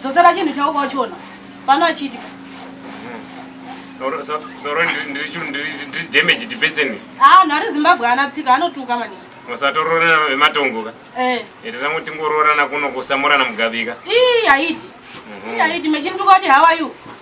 Dzosera chinhu chauka uchiona pano achiti zoro ndiri damage dipeseni haa nhari zimbabwe ana tsika anotuka mani musatoroorana vematongo ka eh. iti tangu tingoroorana kuno kusamurana mugabika ii haiti mhm. ii haiti mechinituka kuti how are you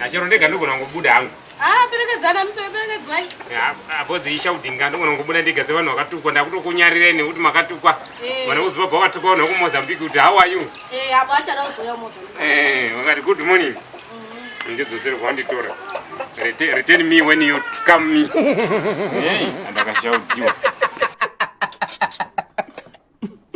Achero ndega ndogona kungobuda hangu. Ah, perekedzana muperekedzwai. Abozi isha kudinga ndogona kungobuda ndega sevanhu vakatukwa ndakutokunyarira ini kuti makatukwa. Eh. Vana kuziva bva vatukwa vanhu vekumozambique kuti how are you? Eh, abo achada kuzouya mozambique. Eh, vakati good morning. Mm-hmm. Ndidzosere kwanditora. Return me when you come me. Eh, andakashaudziwa.